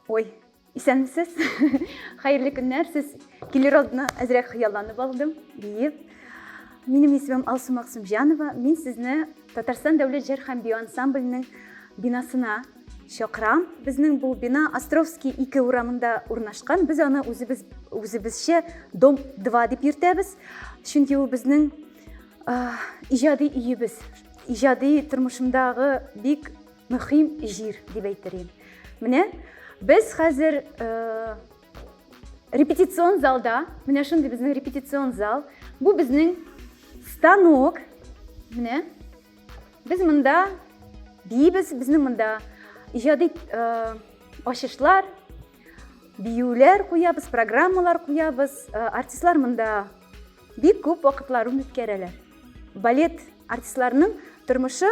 Ой, исәнмесез. Хәерле көннәр. Сез килер алдына әзрәк хыялланып алдым, диеп. Минем исемем Алсу Максымҗанова. Мин сезне Татарстан дәүләт җыр һәм бию ансамбленең бинасына Чакрам, безнең бу бина Островский 2 урамында урнашкан. Без аны үзебез үзебезчә дом 2 дип йөртәбез. Чөнки ул безнең иҗади өебез. Иҗади тормышымдагы бик мөһим җир дип әйтер идем. Менә без хәзер репетицион залда, менә шундый безнең репетицион зал. Бу безнең станок. Менә Без монда бибез, безнең монда иҗади э, ачышлар, биюләр куябыз, программалар куябыз. Э, артистлар монда бик күп вакытларын үткәрәләр. Балет артистларының тормышы,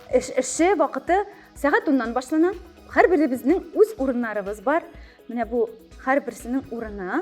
эш, эше, вакыты сәгать уннан башлана. Һәрберебезнең үз урыннарыбыз бар. Менә бу һәрберсенең урыны.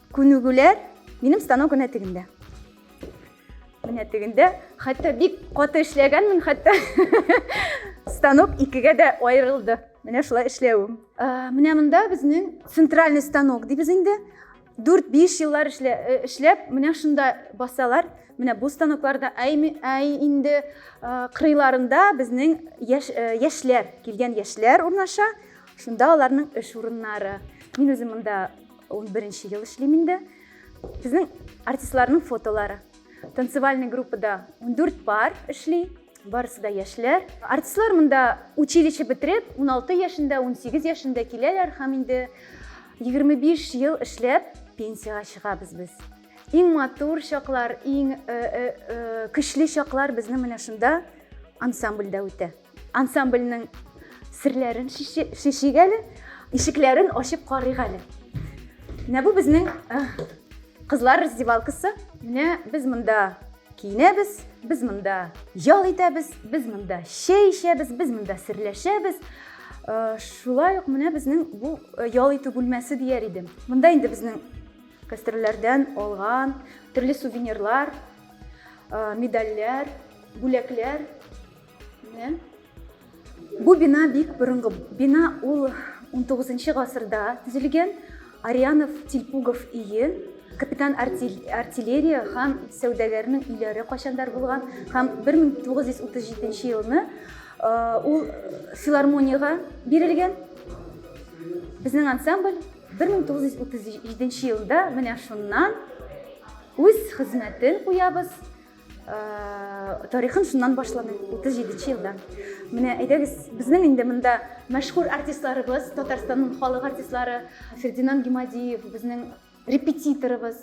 Күнегүләр минем станок гына тегендә. Менә тегендә хәтта бик каты эшләгәнмен, хәтта станок икегә дә аерылды. Менә шулай эшләвем. Ә, менә монда безнең центральный станок дибез инде. 4-5 еллар эшлә, э, эшләп, менә шунда басалар. Менә бу станокларда әй, әй инде э, кырыйларында безнең яш, э, яшьләр, килгән яшьләр урнаша. Шунда аларның эш урыннары. Мин үзем монда 11 ел эшлим инде. Безнең артистларның фотолары. Танцевальный группада 14 пар эшли. Барысы да яшьләр. Артистлар монда училище бетереп, 16 яшендә, 18 яшендә киләләр һәм инде 25 ел эшләп пенсиягә чыгабыз без. Иң матур чаклар, иң э, э, э, көчле чаклар безнең менә шунда ансамбльдә үтә. Ансамбльнең серләрен шешик әле, ишекләрен ачып карыйк әле. Менә бу безнең э, кызлар раздевалкасы. Менә без монда киенәбез, без монда ял итәбез, без монда чәй эчәбез, без монда серләшәбез. Э, шулай ук менә безнең бу э, ял итү бүлмәсе дияр идем. Монда инде безнең гастрольләрдән алган төрле сувенирлар, медальләр, бүләкләр Менә. Бу бина бик борынгы. Бина ул 19 гасырда төзелгән. Арианов, Тилпугов ие, капитан артиллерия һәм сәүдәгәрнең өйләре кайчандар булган һәм 1937 елны ул филармониягә бирелгән. Безнең ансамбль 1937 елда менә шуннан үз хезмәтен куябыз. тарихын шуннан башлады 37 елда менә әйдәгез безнең инде монда мәшһүр артистларыбыз татарстанның халык артистлары фердинанд гимадиев безнең репетиторыбыз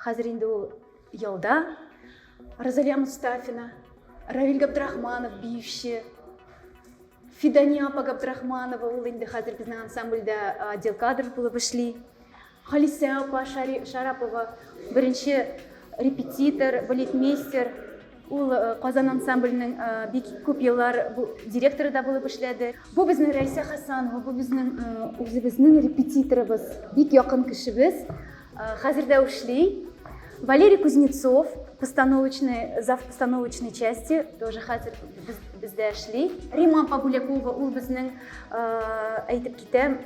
хәзер инде ул ялда розалия мустафина равиль габдрахманов биюче фидания апа габдрахманова ул инде хәзер безнең ансамбльдә отдел кадров булып эшли Халисә апа Шарапова, беренче репетитор, балетмейстер. Ул Казан ансамбленең бик күп еллар директоры да булып эшләде. Бу безнең Рәйсә Хәсанова, бу безнең үзебезнең репетиторыбыз, бик якын кешебез, хәзер дә эшли. Валерий Кузнецов, постановочный, зав постановочной части, тоже хәзер бездә эшли. Римма апа Бүләкова, ул безнең әйтеп Тәм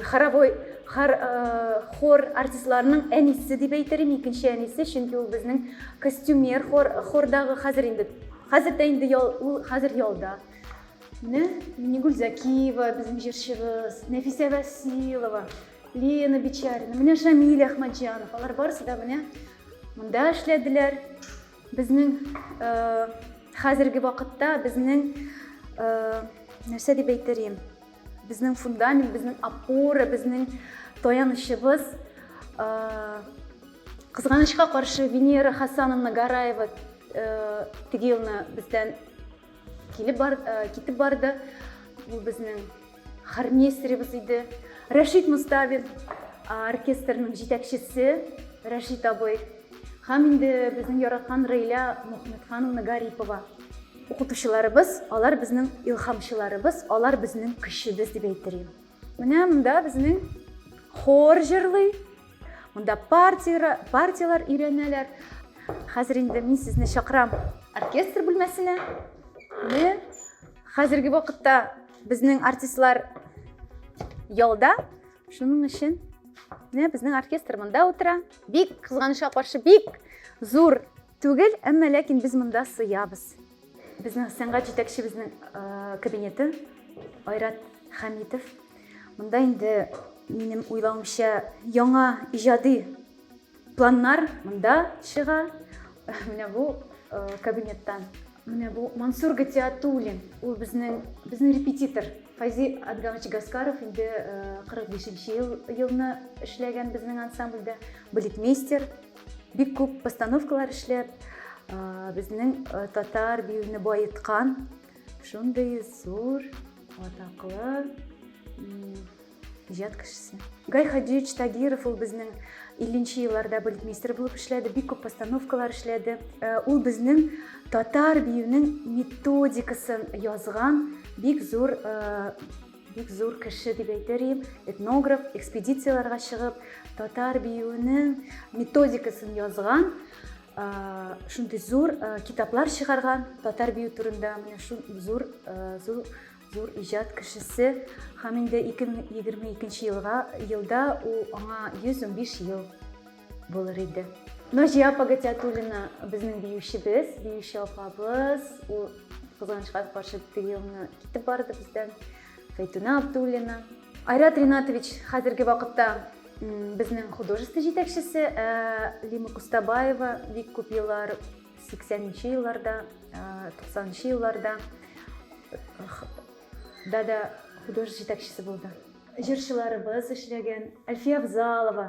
хоровой хор, э, хор артистларының әнисе дип әйтерем, икенче әнисе, чөнки ул безнең костюмер хор, хордагы хәзер инде хәзер дә инде ял, ул хәзер ялда. Менә Минигүл Закиева, безнең җырчыбыз, Нәфисә Василова, Лена Бичарина, менә Шамиль Ахмаджанов, алар барысы да менә монда эшләделәр. Безнең э, хәзерге вакытта безнең э, нәрсә дип әйтер Безнең фундамент, безнең опора, безнең таянычыбыз. Кызганычка каршы Венера Хасановна Гараева теге елны бездән килеп бар, китеп барды. Бу безнең хормейстеребез иде. Рәшит Мустафин оркестрның җитәкчесе Рәшит абый һәм инде безнең яраткан Рәйлә Мөхмәтхановна Гарипова. Укытучыларыбыз, алар безнең илхамчыларыбыз, алар безнең көчебез дип әйттерим. Менә монда безнең хор җырлый, монда партия, партияләр өйрәнәләр. Хәзер инде мин сезне чакырам оркестр бүлмәсенә. Менә хәзерге вакытта безнең артистлар ялда. Шуның өчен менә безнең оркестр монда утыра. Бик кызганычка каршы бик зур Түгел, әмма ләкин без монда сыябыз. Безнең сәнгать җитәкчебезнең кабинеты Айрат Хәмитов. Монда инде минем уйлавымча яңа иҗади планнар монда чыга. Менә бу кабинеттан. Менә бу Мансур Гатиатуллин. Ул безнең безнең репетитор. Файзи Адгамович Гаскаров инде 45 ел елны эшләгән безнең ансамбльдә. Балетмейстер, Бик күп постановкалар эшләп, безнең татар биюне баеткан шундый зур атаклы иҗат кешесе. Гай Хаҗиевич Тагиров ул безнең 50 елларда балетмейстер булып эшләде, бик күп постановкалар эшләде. Э, ул безнең татар биюнең методикасын язган бик зур э, Бик зур кеше дип әйтер идем. Этнограф, экспедицияләргә чыгып, татар биюенең методикасын язган, шундый зур китаплар чыгарган татар бию турында менә шул зур зур зур иҗат кешесе һәм инде 2022 елга елда ул аңа 115 ел булыр иде. Наҗия апа Гатиатуллина безнең биючебез, биюче апабыз. Ул кызганычка каршы теге елны китеп барды бездән. Фәйтүнә Абдуллина. Айрат Ринатович хәзерге вакытта безнең художество җитәкчесе, ә Лима Кустабаева бик күп еллар 80-нче елларда, 90-нчы елларда да да художество җитәкчесе булды. Җырчыларыбыз эшләгән, Әлфия Авзалова,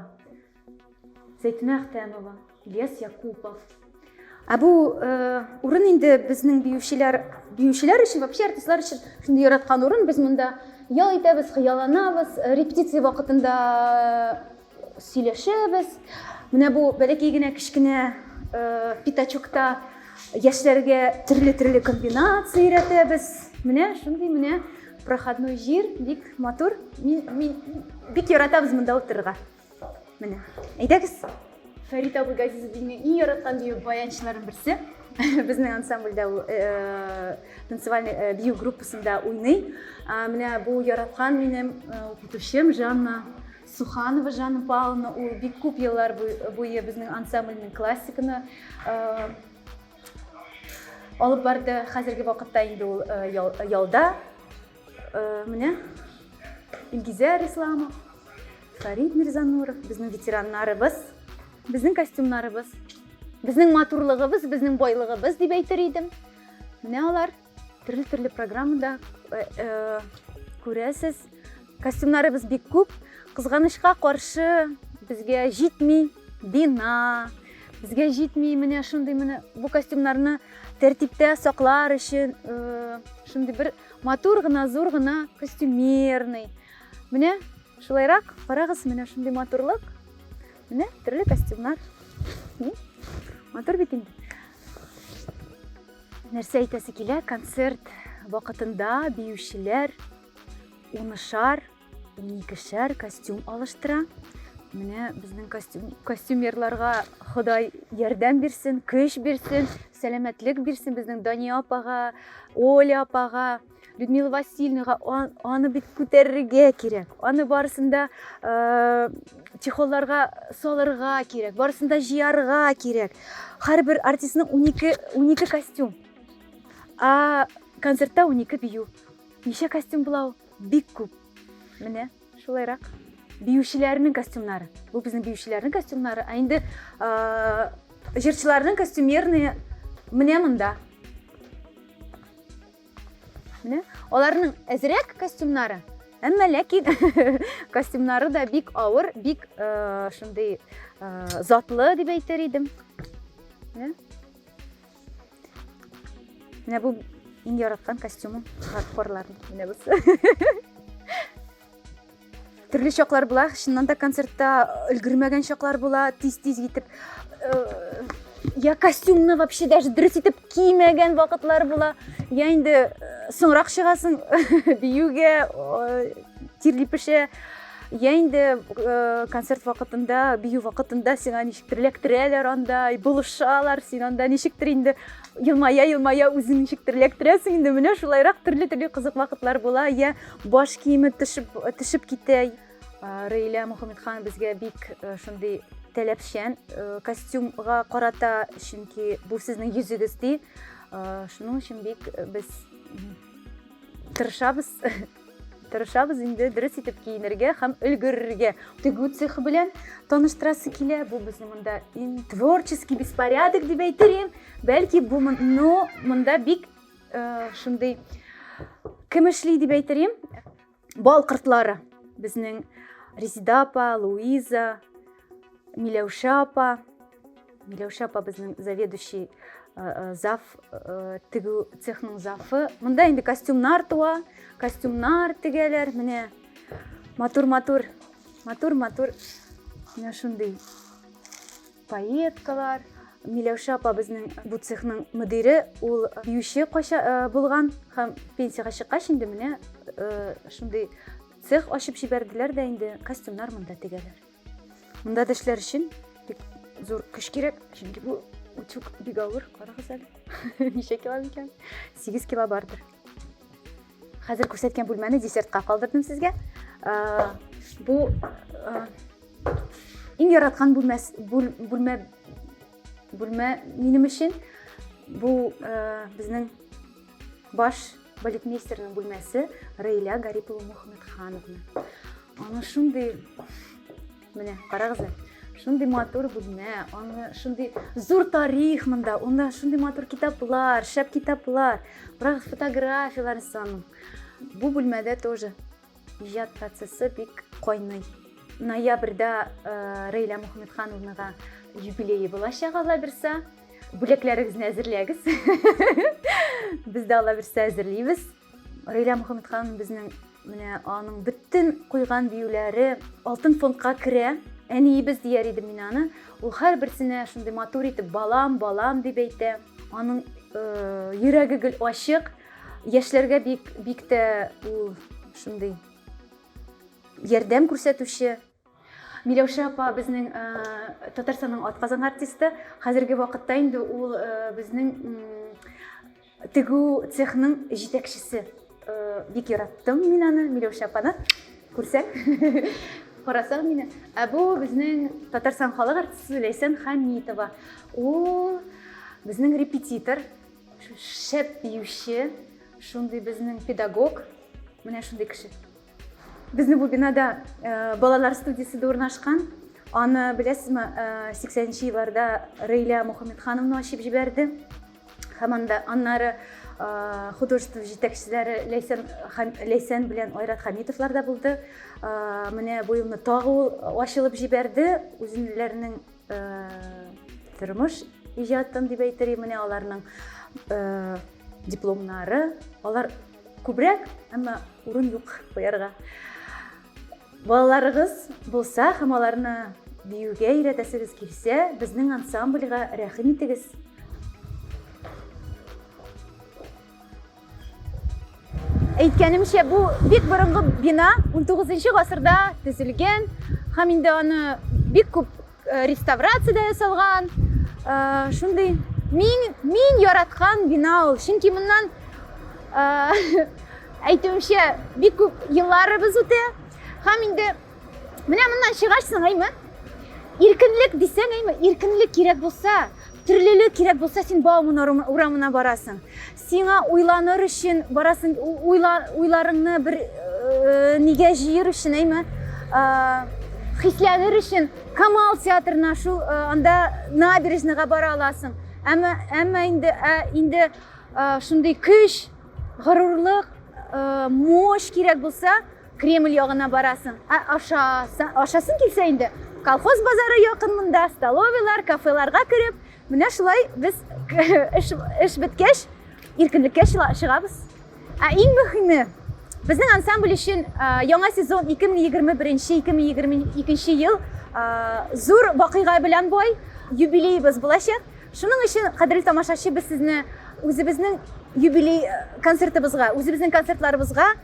Зәйтүнә Әхтәмова, Ильяс Якупов. Ә бу урын инде безнең биючеләр, биючеләр өчен, вообще артистлар өчен шундый яраткан урын. Без монда ял итәбез, хыялланабыз, репетиция вакытында сөйләшәбез. Менә бу бәләкәй генә кечкенә пятачокта яшьләргә төрле-төрле комбинация өйрәтәбез. Менә шундый менә проходной җир, бик матур. Мин, мин бик яратабыз монда утырырга. Менә, әйдәгез. Фәрит абый Газизовның иң яраткан бию баянчыларын берсе. Безнең ансамбльдә ул э, танцевальный э, бию группасында уйный. Менә бу яраткан минем э, укытучым Жанна Суханова Жанна Павловна ул бик күп еллар буе безнең ансамбльнең классиканы алып барды. Хәзерге вакытта инде ул ялда. Менә Илгизәр Исламов, Фарид Мирзануров, безнең ветераннарыбыз, безнең костюмнарыбыз, безнең матурлыгыбыз, безнең байлыгыбыз дип әйтер идем. Менә алар. Төрле-төрле программада э, э, күрәсез. Костюмнарыбыз бик күп. Кызганычка каршы безгә җитми бина, безгә җитми менә шундый менә бу костюмнарны тәртиптә саклар өчен э, шундый бер матур гына, зур гына костюмерный. Менә шулайрак карагыз, менә шундый матурлык. Менә төрле костюмнар. Матур бит инде. Нәрсә әйтәсе килә, концерт вакытында биючеләр унышар, уникешәр костюм алыштыра. Менә безнең костюм, костюмерларга Ходай ярдәм бирсен, көч бирсен, сәламәтлек бирсен безнең Дания апага, Оля апага. Людмила Васильевнаға аны бит күтәрергә кирәк. Аны барысында э, чехолларга салырга кирәк, барысында җыярга кирәк. Һәрбер артистның 12 12 костюм. А концертта 12 бию. Ничә костюм була ул? Бик күп. Менә шулайрак. Биючеләрнең костюмнары. Бу безнең биючеләрнең костюмнары. Ә инде э, җырчыларның костюмерные менә монда. Менә аларның әзрәк костюмнары, әмма ләкин костюмнары да бик авыр, бик э, шундый э, затлы дип әйтер идем. Менә. Менә бу иң яраткан костюмым хардкорларның. Менә бусы. Төрле чаклар була, чыннан да концертта өлгермәгән чаклар була, тиз-тиз китеп я костюмны вообще даже дөрес итеп кимәгән вакытлар була. Я инде соңрак чыгасың биюгә, тирли пешә. Я инде концерт вакытында, бию вакытында сиңа ничектер эләктерәләр анда, булышалар, син анда ничектер инде елмая-елмая үзең ничектер эләктерәсең инде. Менә шулайрак төрле-төрле кызык вакытлар була. Я Баш киеме төшеп, төшеп китә. Рейля Мухаммедхан безгә бик шундый таләпчән костюмга карата, чөнки бу сезнең йөзегез ди. Шуның өчен бик без тырышабыз. Тырышабыз инде дөрес итеп киенергә һәм өлгерергә. Тегү цехы белән таныштырасы килә. Бу безнең монда творческий беспорядок дип әйтерем. Бәлки бу монда бик шундый кемешли дип әйтерим бал кортлары безнең резида апа луиза миләүшә апа миләүшә апа безнең заведующий зав тегү цехның зафы монда инде костюмнар туа костюмнар тегәләр менә матур матур матур матур менә шундый Поеткалар, Миләүшә апа безнең бу цехның мөдире, ул биюче кайча булган һәм пенсиягә чыккач инде менә шундый цех ачып җибәрделәр дә инде костюмнар монда тегәләр. Монда да эшләр өчен бик зур көч кирәк, чөнки бу утюг бик авыр, карагыз әле. Ничә кило микән? 8 кило бардыр. Хәзер күрсәткән бүлмәне десертка калдырдым сезгә. Бу иң яраткан бүлмә бүлмә бүлмә минем өчен. Бу безнең баш балетмейстерның бүлмәсе Рейля Гарипова Мухаммедхановна. Аны шундый Менә, карагыз әле. Шундый матур бүлмә, аны шундый зур тарих монда, анда шундый матур китаплар, шәп китаплар, бирок фотографияләр санын. Бу бүлмәдә тоже иҗат процессы бик кайный. Ноябрьдә э, Рәйлә Мөхәммәтхановнага юбилее булачак Алла бирсә. Бүләкләрегезне әзерләгез. Без дә Алла бирсә әзерлибез. Рилә Мөхәммәт ханым безнең менә аның бөтен куйган биюләре алтын фондка керә. Әниебез дияр идем мин аны. Ул һәрберсенә шундый матур итеп балам, балам дип әйтә. Аның э, йөрәге гел ачык. Яшьләргә бик бик тә ул шундый ярдәм күрсәтүче. Миләүшә апа безнең Татарстанның атказан артисты. Хәзерге вакытта инде ул безнең тегү цехның җитәкчесе. Бик яраттым мин аны, Миләүшә апаны. Күрсәң, карасаң мине. Ә бу безнең Татарстан халык артисты Ләйсән Хамитова. Ул безнең репетитор, шәп биюче, шундый безнең педагог. Менә шундый кеше. Безнең бу бинада балалар студиясе дә урнашкан. Аны беләсезме, 80-нче елларда Рәйлә Мухаммедхановна ачып җибәрде. Һәм анда аннары художество җитәкчеләре Ләйсән һәм Ләйсән белән Айрат Хәмитовлар да булды. Менә бу елны тагы ул ачылып җибәрде. Үзеннәренең тормыш иҗатын дип әйтер идем, менә аларның дипломнары. Алар Күбрәк, әмма урын юк куярга. Балаларыгыз булса һәм аларны биюгә өйрәтәсегез килсә, безнең ансамбльгә рәхим итегез. Әйткәнемчә, бу бик борынгы бина, 19 нчы гасырда төзелгән һәм инде аны бик күп Э, реставрация дә ясалган э, шундый мин мин яраткан бина ул чөнки моннан э, әйтүемчә бик күп елларыбыз үтә һәм инде менә моннан чыгарсың әйме иркенлек дисәң әйме иркенлек кирәк булса төрлелек кирәк булса син бауман урамына барасың Сиңа уйланыр өчен барасын уйла, уйларыңны бер э, нигә җыер өчен әйме э, хисләнер өчен камал театрына шул э, анда набережныйга бара аласың әмма әмма инде ә, инде э, шундый көч горурлык э, мощь кирәк булса кремль ягына барасың ә аша ашасың килсә инде колхоз базары якын монда столовыйлар кафеларга кереп Менә шулай без эш, эш беткәч иркенлеккә чыгабыз. Ә иң мөһиме, безнең ансамбль өчен яңа сезон 2021-2022 ел зур вакыйга белән бай, юбилеебыз булачак. Шуның өчен, кадерле тамашачы, без сезне үзебезнең юбилей концертыбызга, үзебезнең концертларыбызга